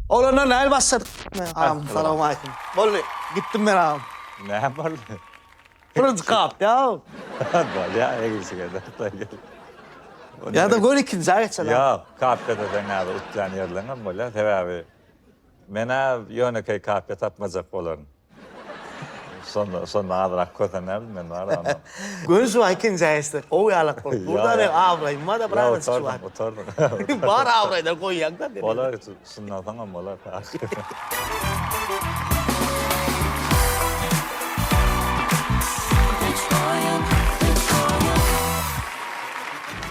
Oglanlar nähili başladyk? Agam salowmaleýkim. Boldy, gitdim men agam. Näme boldy? Birinji kat ýa. Bolýar egilşige däl. Ýa-da gör ikinjä geçeli. Ýok, kapka desen näme utýan ýerleňem bolýar, sebäbi men-ä ýönekeý kapka tapmajak bolaryn. Şonda, şonda azrak kösenerdim men bar onda. Göni şu wagt ikinji aýyşdyr. Gowy ýalak bolup durda men abraýymada bir aýyş şu wagt. Gutardyň, gutardyň. Bar abraýda goýýaňda. Bolar, synlasaňam bolar.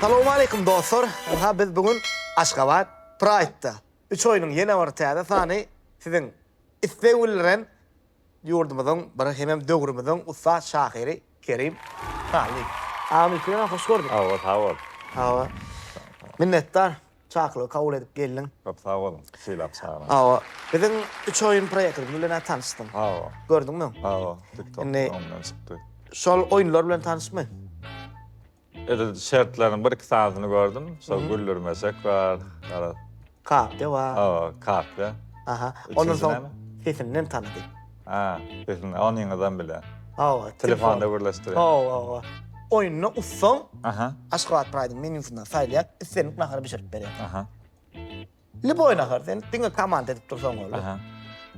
Salowmaleýkim dostlar. Ynha biz bu gün Aşgabat Pride-da. Üç oýnuň ýene bir täze sany siziň isleg bildiren ýurdumyzyň bir hemem döwrümiziň ussat şahyry Kerim Hallyýew. Agam ilki bilen hoş gördük. Sag bol, sag bol. Hawa. Minnetdar, çakylygy kabul edip geldiň. Köp sag boluň, sylap çagyryň. Hawa. Biziň Üç oýun proýektimiz bilen-ä tanyşdyň. Hawa. Gördüňmi? Hawa, TikTok-da oňundan çykdy. Şol oýunlar bilen tanyşmy? Edil şertleriniň bir iki sanysyny gördüm. Şol güldürmesek bar. Garaz. Kakde bar. Hawa, kakde. Aha. Ondan soň sesinden tanady. Ha, sesinden. Onyňyzam bile. Hawa. Telefonda gürleşdirýär. Hawa, hawa. Oýunda ussaň. Aha. Aşgabat Pride-iň menýusyndan saýlaýar, islendik nahary bişirip berýär. Aha. Lýuboý nahar, sen diňe komanda edip dursaň boldy. Aha.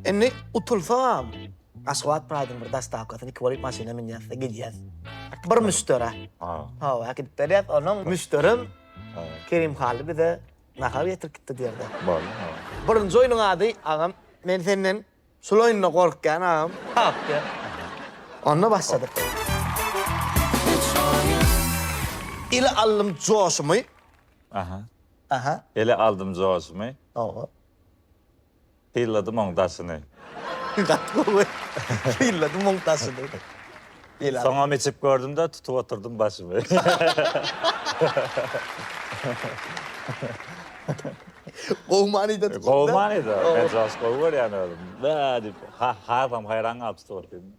Indi utulsam, Aşgabat Pride-yň bir dostawkasyny iki bolup maşyna münýäs-de gidýäs. Bir müşderä. Ha. Hawa, gidip gelýäs, onuň müşderim Ha. Kerim Hally bize nahar getirip gitdi diýerdi. Bar. Ha. Birinji oýnuň ady, agam, men senden şul oýunda gorkýan, agam. Hak diýer. Onda başladyk. Ile aldym joşumy. Aha. Aha. Ele aldym joşumy. Oho. Pylladym oň daşyny. Gaty gowy. Pylladym oň daşyny. Ele aldym. Soňam içip gördüm-de, tutup oturdym başymy. Gowy manyda tutup. Gowy manyda. Men joşup gowy görýän özüm. Bäh diýip, ha-hazam haýran galyp tutup otyryn.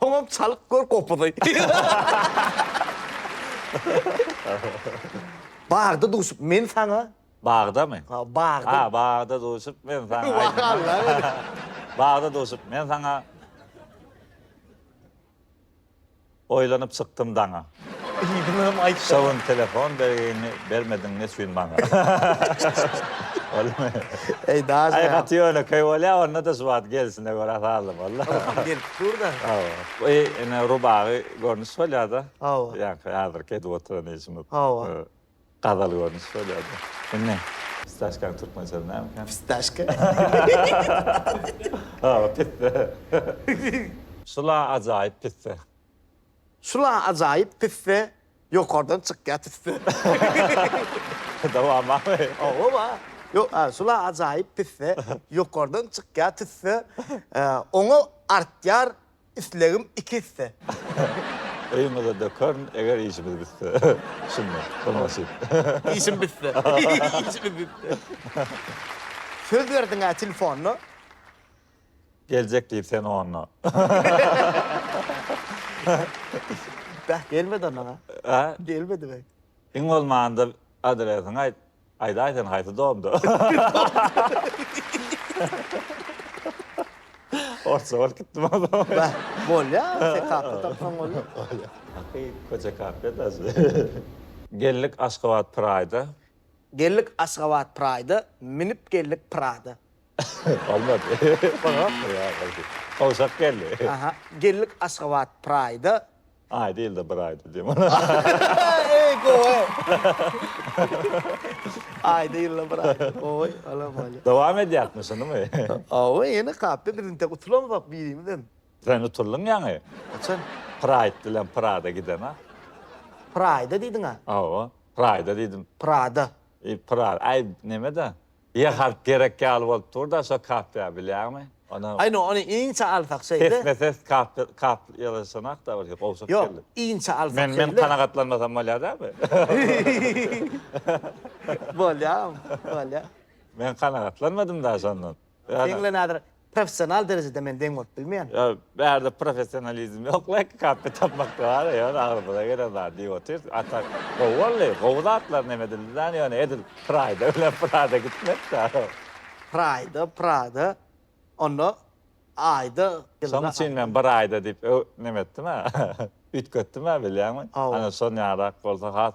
Soňam çalyp gör gopuzy. Bagda duşup men saňa. Bagdamy? Ha, bagda. Ha, bagda duşup men saňa. Bagda duşup men saňa. Oýlanyp çykdym daňa. Yzyňam aýtsana. Şo gün telefon belgiňi bermediň neçün maňa. Bolýamy? Eý daş Aý gaty ýönekeý bolýa onda-da şu wagt gelsine görä sazly boldy. Hawa gelip dur-da. Hawa. Bu ine rubagy görnüş bolýa-da. Hawa. Ýaňky häzirki edip oturan işimiz. Hawa. Gazal görnüşi şol ýerde. Indi. Fistaşkanyň türkmençe ady näme ekän? Fistaşka. Hawa, pisse. Şul-a ajaýyp pisse. Şul-a ajaýyp pisse, ýokardan çykýar tüsse. Dowam barmy? Hawa-ba. Ýok, a, şul-a ajaýyp pisse, ýokardan çykýar tüsse, oňa artýar islegim iki esse. Öýüňize dökerin, eger işimiz bitse. Şunda, şol nasyp. Işim bitse. Işimiz bitse. Söz berdiň-ä telefonna. Geljek diýip sen onda. Beh, gelmedi onnoň-a. Hä? Gelmedi beh. Iň bolmanda adresiňi aýt. Aýdaý sen haýsy domda? Orsça bolup gitdim ozal. Bäh, bolýar, TKP tapsaň bolýar. Haky köçe kafe daşy. Geldik Aşgabat Pride-a. Geldik Aşgabat Pride-a, minip geldik Prada. Bolmady. Bolmapdyr ýa. Gowşak geldi. Aha, geldik Aşgabat Pride-a, Aý dil-de bir aýda diýem. Eý gowy. Aý dil-de bir aýda. Gowy, ala bolýa. Dowam edýäkmi şunymy? Hawa, ýene kapda biz intek utulamzok birimizem. Sen utuldyň ýaňy. Haçan? Praýd bilen Prada giden-a. Praýda diýdiň-a? Hawa, Praýda diýdim. Prada. Pra, aý neme-de? Ýa harp gerek ýaly bolup durda şo kapya bilýäňmi ony. Aý no ony inçe alsak şeýle. Pesme pes kap kap ýazyşynakda bir gowşak geldi. Ýok inçe alsak şeýle. Men men kanagatlanmasam bolýa dämi. Bolýa bolýa. Men kanagatlanmadym da şondan. Seňle nazir. professional derejede men deň bolup bilmeýän. Ýok, bärde professionalizm ýok, laýk kappe tapmakda bar, ýöne agzymyza gelen zady diýip otyrys, a tak gowy boldy, gowy zatlar nem edildi däl, ýöne edil Prayda bilen Prada gitmek zor. Prayda, Prada, onda aýda, ýylda. Şoň üçin men bir aýda diýip öw, nem etdim-ä, üýtgetdim-ä bilýäňmi? Hawa. Ana şon ýarak bolsa has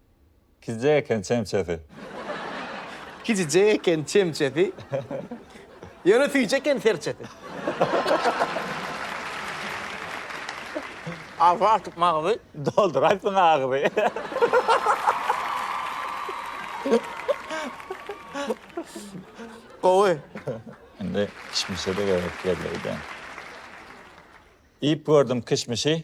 Kijije eken çemçesi. Kijije eken çemçesi. Ýöne süýji eken serçesi. Arpa atyp magzy. Dolduraýsyn agzy. Gowy. Indi kişmişe-de gerek geldi-de. Iýip gördüm kişmişi.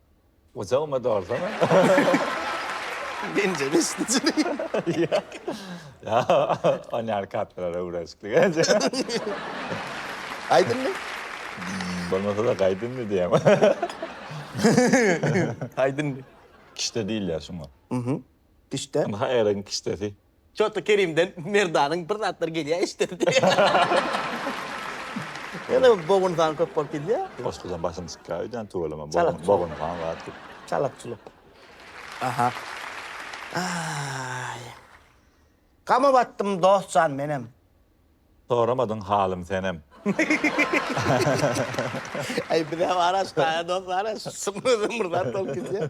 Gujagyma dolsana. Bence beşinjiligi. Ýa. Ony ýaly kartlara öwrenişiklik edýä. Aýdymmy? Bolmasa-da gaýdymmy diýýäň. Aýdymmy? Kişde diýilýär şuňa. Kişde. Ynha äriň kişdesi. Çotly Kerimden Merdanyň bir zatlar gelýä eşideli diýýä. Ýene bogun sany köp bolup gidýä. Goşgudan başym çykýa öýdän tüweleme bogun bogun sany bar diýip. Çalak çuluk. Aha. Aý. Gama batdym dost jan menem. Soramadyň halym senem. Aý bizem araş daýa dost araş. Symyzym bir zat bolup gidýä.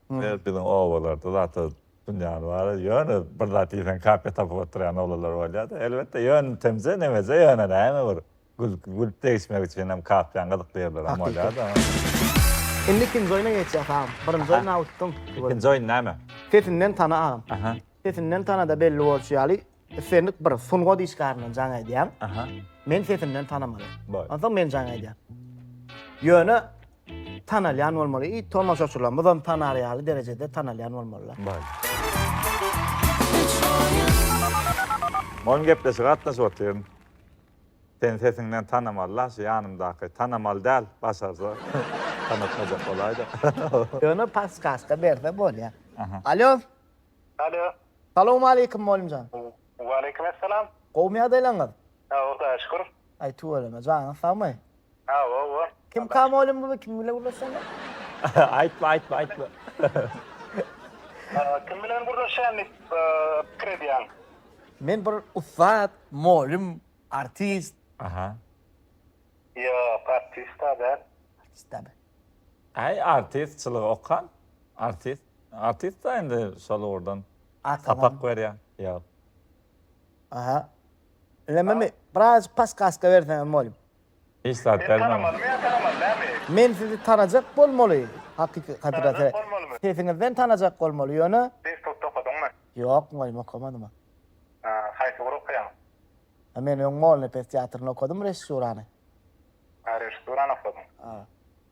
Hümmedip biziň obalarda zat-a dünýäni bar-a, ýöne bir zat iýseň kaka tapyp oturýan oglanlar bolýar-da. Elbetde, ýöntemje, nemeje, ýöne näme bir gülki gülüp degişmek üçinem kapýan gyzykly ýerlerem bolýar-da. Indi ikinji oýna geçýäs agam. Birinji oýny-a utdum. Ikinji oýun näme? Sesinden tana agam. Sesinden tana-da belli bolşy ýaly, Islendik bir sungat işgäriniň jaň aýdýan. Aha. Men sesinden tanamaly. Boý. Onsoň men jaň aýdýan. Ýöne tanalýan bolmaly i tomaşaçylarymyzam tanar ýaly derejede tanalýan bolmalylar. Boý. Muňa gepleşik gatnaşyp otyryn. Sen sesiňden tanamalylar, şu ýanymdaky tanamaly däl, başarsa tanatmajak bolaýda. Ýöne paskazka berse bolýar. Aha. Alýo. Alo. Salowmaleýkim molymjan. Waleýkim essalam. Gowumy ýagdaýlaňyz? Sag bol Hudaýa şükür. Aý tüweleme janyňyz sagmy? Hawa bo. Kimka molym bu kim bilen gürleşýäňiz? Aýtma aýtma aýtma. Kim bilen gürleşýän diýip pikir edýäň? Men bir ussat, molym, artist. Aha. Ýok artist-a däl. Artist däl. Aý artistçylygy okan artist. Artist da indi şol ugurdan sapak berýär. Ýok. Aha. Ilememi? Birazjyk paskaska berseňem bolýa. Hiç zat bermem. Men sizi tanajak bolmaly. Hakyky kadra se. Sesiňizden tanajak bolmaly ýöne. Institutda okadyňmy? Ýok mugallym okamadym. Haýsy ugur okaýaň? Men öň Molnepes teatryny okadym režissýurany. Režissýurany okadyň.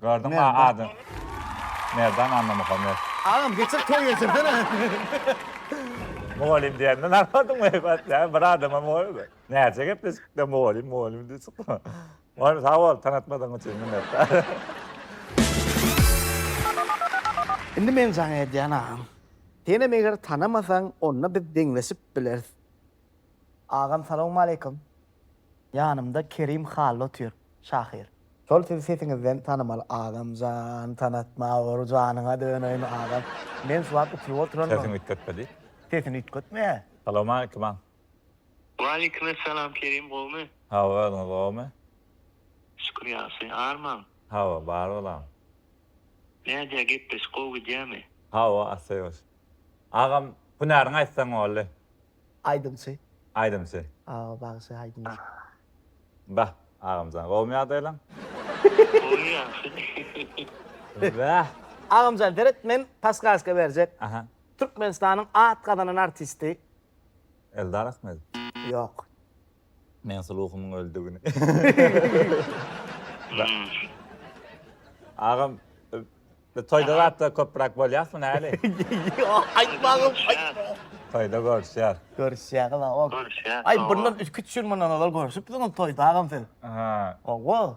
Gördüňmi a adyny. Merdan Annamuhammet. Agam geçir toý geçirsene. Mugallym diýende narahatym heýbat ýa bir adama mugallym. Näçe gepleşikde mugallym mugallym diýip çykdy. Mugallym sag bol tanatmadygyň üçin minnetdar. Indi men jaň edýän agam. Senem eger tanamasaň onda biz deňleşip bileris. Agam salawmaleýkum. Ýanymda Kerim Hally otyr. Şahyr. Şol siz sesiňizden tanymal agamjan tanatma ur janyňa döneýin agam men şu wagt uçuryp oturanmyň. Sesini üýtgetme diý. Sesini üýtgetme. Salowmaleýkim agam. Waleýkim essalam Kerim gowmy. Hawa özüňiz gowmy. Şükür ýagşy. Armaň. Hawa bar bolam. Nädýä gepleşik gowy gidýämi. Hawa assyýos. Agam hünäriňi aýtsaň boldy. Aýdymçy. Aýdymçy. Awa bagşy aýdymçy. Bah agamjan gowmy ýagdaýlaň. Gowy ýagşy. Bah. Agamjan seret men paskaska berjek. Aha. Türkmenistanyň at gazanan artisti. Eldar Ahmedow. Ýok. Mensi ruhumyň öldi güni. Agam bu toýda zatda köpräk bolýasmy näli? Ýok aýtmagam aýtma. Toýda görüşýär. Görüşýäňiz ha ok. Görüşýäs. Aý bundan üç-üç ýyl mundan ozal görüşipdiňiz toýda agam siz. Ha. Owo.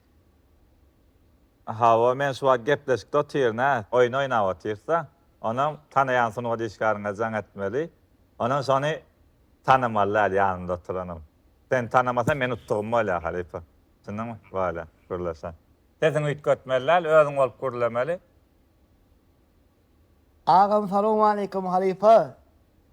Hawa, men şu wagt gepleşikde otyryn ä, oýun oýnap otyrys-a. Onam tanaýan sungat işgäriňe jaň etmeli. Onam şony tanamaly däl ýanynda oturanam. Sen tanamasaň men utdugym bolýar halypa. Düşündiňmi? Bolýa, gürleşä. Sesiňi üýtgetmeli däl, özüň bolup gürlemeli. Agam salowmaleýkim halypa.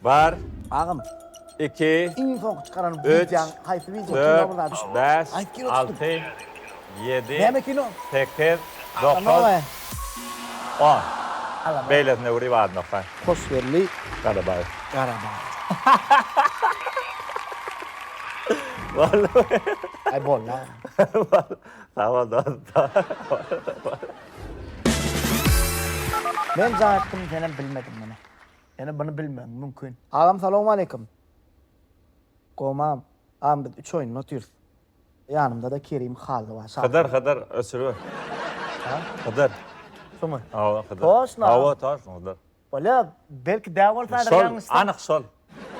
Bar. Agam. Iki. Iň soňky çykaran wideoň haýsy wideo şunda bir zat. Bäş. Aýt kino alty. Ýedi. Näme kino? Sekiz. Dokuz. On. Beýlesine wuri barmaka. Hoşgelli. Garabaýew. Aý boldy agam. Sag bol dost. Men jaň etdim senem bilmediň meni. Ýöne buny bilmegim mümkin. Agam salowmaleýkim. Gomam. Agam biz üç oýunda otyrys. Ýanymdada Kerim Hally bar. Şahyr. Hydyr Hydyr öçüribet. Hä? Hydyr. Şumy? Hawa Hydyr. Toşno. Hawa toşno Hydyr. Bolýa belki däw bolsadyr ýalňyşsam. Şol anyk şol.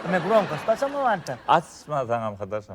Ine gromkost açamok anta. Açma saňam Hydyr şol.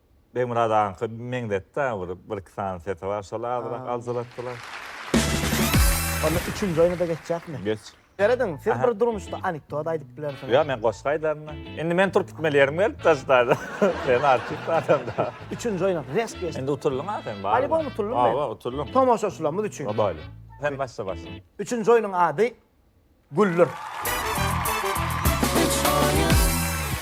Begmyrat agaňka meňzetdi a bir bir iki sany sesi bar şol azyrak aljalatdylar. Onda üçünji oýnada geçjekmi? Geç. Serediň siz bir durmuşda anekdot aýdyp bilersiňiz. Ýok men goşgy aýdarynda. Indi men turup gitmeli ýerim gelip da ştaýda. Sen artist adam da. Üçünji oýna resp geçdik. Indi utuldyň a sen. Balibon utuldym men. Hawa utuldym. Tomaşaçylarymyz üçin. Obaýly. Sen başla başla. Üçünji oýnuň ady Güller.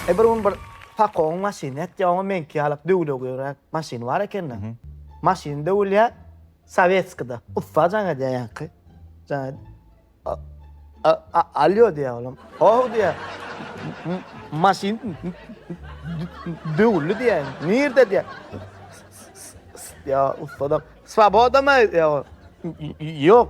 E bir gün bir Pakoň maşyny etýär, oňa meňki ýaly döwle göýräk maşyny bar ekeni. Maşyn döwülýär, sowetskide. Ussa jaň edýär ýaňky. Jaň edip, a- a- a- Alýo diýýär olam. How diýýär. M- Maşyn d- döwüldi diýýär. Nirde diýýär. S- s- s- Diýýär ussa da. Swoboda-my? diýýär. Ýok.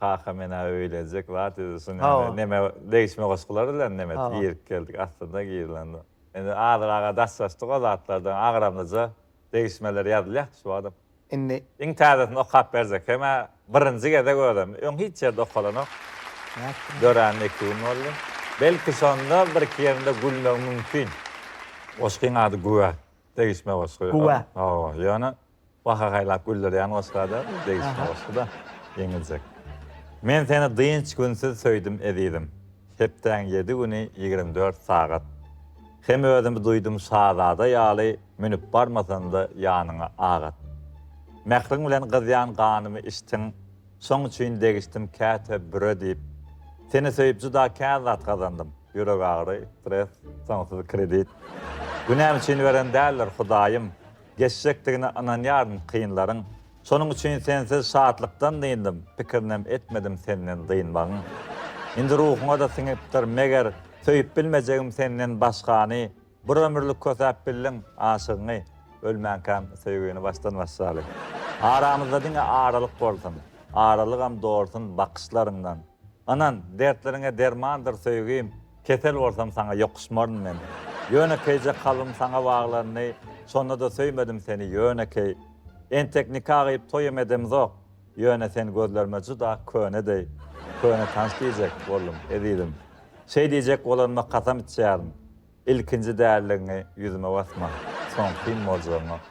Kaka men-ä öýlenjek zat edilsin ýaly neme degişme goşgular bilen neme girip geldik aslynda girlende. Indi azyrak-a daşlaşdyk o zatlardan agramlyja degişmeler ýazylýardy şu wagtam. Indi. Iň täzesini okap berjek hem-ä birinji gezek özem. Öň hiç ýerde okalanok. Döränine iki gün boldy. Belki şonda birki ýerinde gülmegi mümkin. Goşgyň ady Güwä degişme goşgy. Güwä. Hawa, ýöne Baha haýlap güldürýän goşga da degişme goşguda ýeňiljek. Men seni dynç günsüz söýdüm ezizim Hepdäň ýedi güni ýigrimi dört sagat Hem özümi duýdum şazada ýaly Münüp barmasam-da ýanyňa ak at Mähriň bilen gyzýan ganymy içdiň Şoň üçin degişdim käte büre diýip Seni söýüp juda kä zat gazandym Ýürek agyry, stres, soňsuz kredit Günäm üçin beren däldir Hudaýym Geçjekdigine ynanýaryn kynlaryň. Şonuň üçin sensiz şatlykdan dyndym, pikirinem etmedim senden dynmagyň. Indi ruhuňa-da siňipdir, meger, söýüp bilmejegim senden başgany, bir ömürlik kösäp bildiň aşygyňy, ölmänkäm söýgini başdan başlaly. Aramyzda diňe aralyk bolsun, aralygam dolsun bakyşlaryňdan. Ynan, dertleriňe dermandyr söýgim. Kesel bolsam saňa ýokuşmaryn men Ýönekeýje kalbym saňa baglandy Şonda-da söýmedim seni ýönekeý Entek nika gyýyp toýam edemzok Ýöne sen gözlerime juda köne deý Köne tans diýjek boldum ezizim Şeý diýjek bolanyma kasam içýärin Ilkinji däldigiňi ýüzüme basma Soňkym boljagyňa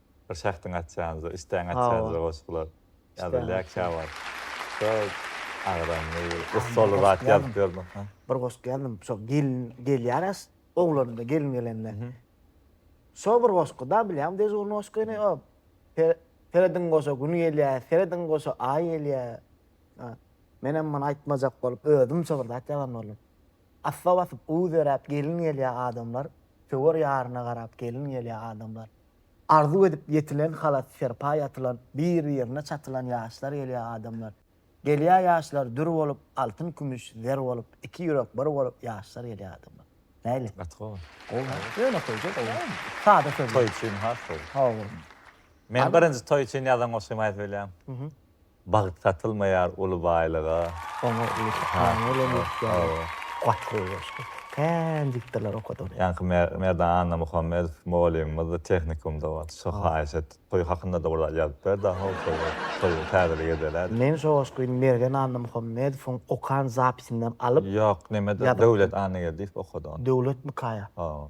Bir şahsyň atýanyza, üçtäň atýanyza goşgular ýazylýar käwagt. Şol agramly, gussaly zat ýazyp ýörmüň? Bir goşgy ýazdym. Şo gelin gelýär as, oglanda gelin gelende. Şo bir goşgy-da bilýäňmi dežurnyň goşgyny? O, Serediň goşa Gün gelýär, serediň goşa Aý gelýär. Menem muny aýtmajak bolup, özümçe bir zat ýazan boldum. Asla basyp uzeräp gelin gelýä adamlar Söwer ýaryna garap gelin gelýä adamlar Arzuw edip ýetilen halat serpa ýatylan Bir birine çatylan ýaşlar gelýä adamlar Gelýä ýaşlar dür bolup altyn kümüş zer bolup Iki ýürek bir bolup ýaşlar gelýä adamlar Näli? Gaty gowy. Gowy ha. Ýöne toýja gowy. Sada sözler. Toý üçin has gowy. Hawa. Men birinji toý üçin ýazan goşgymy aýdyp bilýän. Bagt satylmaýar uly baýlyga. Oňa eýse Ana bolan ýurtlaryň goşgy goşdy. Kän diktorlar okady ony. Ýaňky Merdan Annamuhammedow mugallymymyz tehnikumda wagty şo haýyş etdi. Toý hakynda-da bir zat ýazyp ber daha ol toýa. Toý täzelik edeler. Men şo goşgy Mergen Annamuhammedowyň okan zapisinden alyp. Ýok, neme Döwlet Annageldiýew okady ony. Döwletmikaýa? Hawa.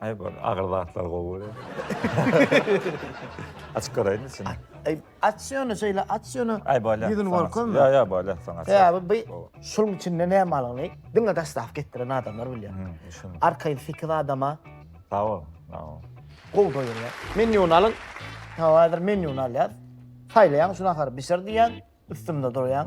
Aý bir agyr zatlar gowy öyle. Açyk göreyim içini. Aý aç ýöne şeýle aç ýöne. Aý bolýa. Ýüzüni görkezme. Ýa ýa bolýa soň aç. Sebäbi bu şuň içinde näme alany diňe daşdap getiren adamlar bilýär. Arkaýyn sekiz adama. Sag ol. Sag ol. Gowy doýurýa. Menýuny alyň. Tamam häzir menýuny alýas. Saýlaýaň şu nahary bişir diýýän. Üstünde durýaň.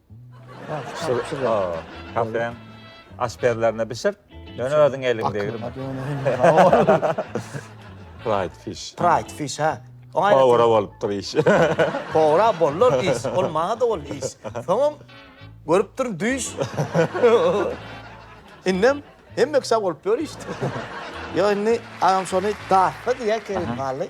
Kafeň aşpezlerine bişir. Döne özüň eliň degir. Pride fish. Pride fish ha. Pogra bolupdyr iş. Pogra bollar iş. Ol maňa da ol iş. Soňam görüp durun düýş. Indem hemme kişä bolup ýör iş. Ýa indi agam şony dartma diýä kerim gally.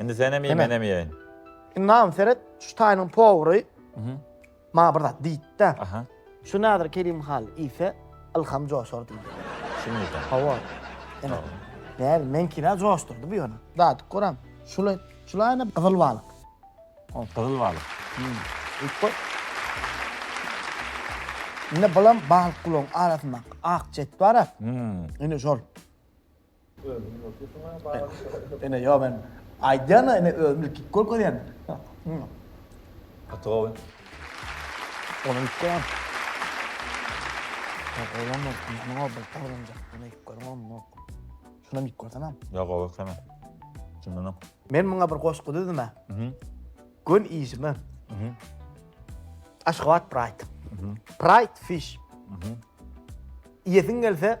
Indi senem iý, menem iýeýin. Indi mam seret, şu taýynyň powry maňa bir zat diýdi-de. Aha. Şu Nadir Kerim Hal iýse, Ylham joşar diýdi. Şuny diýdi. Hawa. Ene. Däl, meňkini-ä joşdurdy bu ýöne. Dadyk goram. Şuly, şulaýyn-a gyzyl balyk. O, gyzyl balyk. Iýip goý. Ine bulam balyk gulagyň arasyndaky ak jet bar-a. Ine şol. Ene yo men aýdýan da ene özüm ilki görkezýän. Gaty gowy. Onuň üçin. Olam yok. Ne oldu? Olam yok. Bana ilk görüm olam yok. Şuna ilk görsene. Ya gowy ekene. Şundan ok. Men muňa bir goşgy düzdüm ha. Gün işimi. Aşgabat Pride. Pride Fish. Iýesiň gelse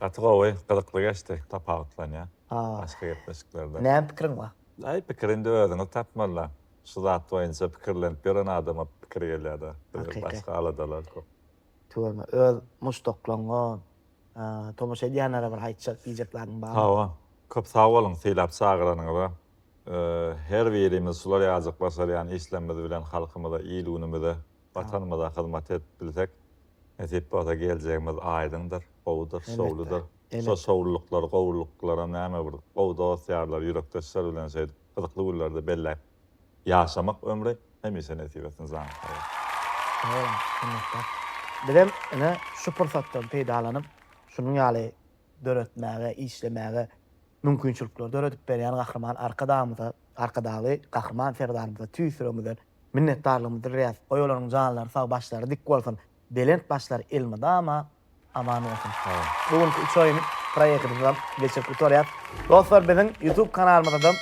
Gaty gowy, gyzykly geçdi. Tapawutlanýar başga gepleşiklerden. Näme pikiriň bar? Aý pikir indi özüňiz tapmaly-la. Şu zat boýunça pikirlenip ýören adama pikir gelýär-de. Bize başga aladalar köp. Tüweleme, öz muşdaklaryňa, tomaşa edýänlere bir aýtjak, diýjek zadyň barmy? Hawa. Köp sag boluň sylap çagyranyňyza. Her birimiz şular ýaljak başarýan işlerimiz bilen halkymyza, il-günümize Watanymyza hyzmat edip bilsek, nesip bolsa geljegimiz aýdyňdyr, gowudyr, şowludyr. Şo şowlulyklar, gowulyklary näme bir gowy dost-ýarlar, ýürekdeşler bilen şeýdip gyzykly günlerde belläp ýaşamak ömri hemişe nesip etsin janyň sag bolsun. Sag boluň, minnetdar. Bizem ine şu pursatdan peýdalanyp, şunuň ýaly döretmäge, işlemäge mümkinçilikleri döredip berýän Gahryman Arkadagymyza, Arkadagly Gahryman Serdarymyza tüýs ýüregimizden Minnetdarlygymyzy bildirýäs. Goý olaryň janlary sag başlary dik bolsun. Belent başlary elmydama aman bolsun. Bu günki üç oýun proýektimizi geçirip gutarýas. Dostlar biziň YouTube kanalymyzada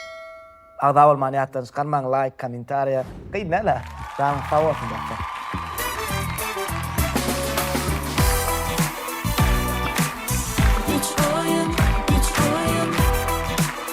agza bolmany ýatdan çykarmaň laýk kommentariýa kyn dälä janyňyz sag bolsun dostlar.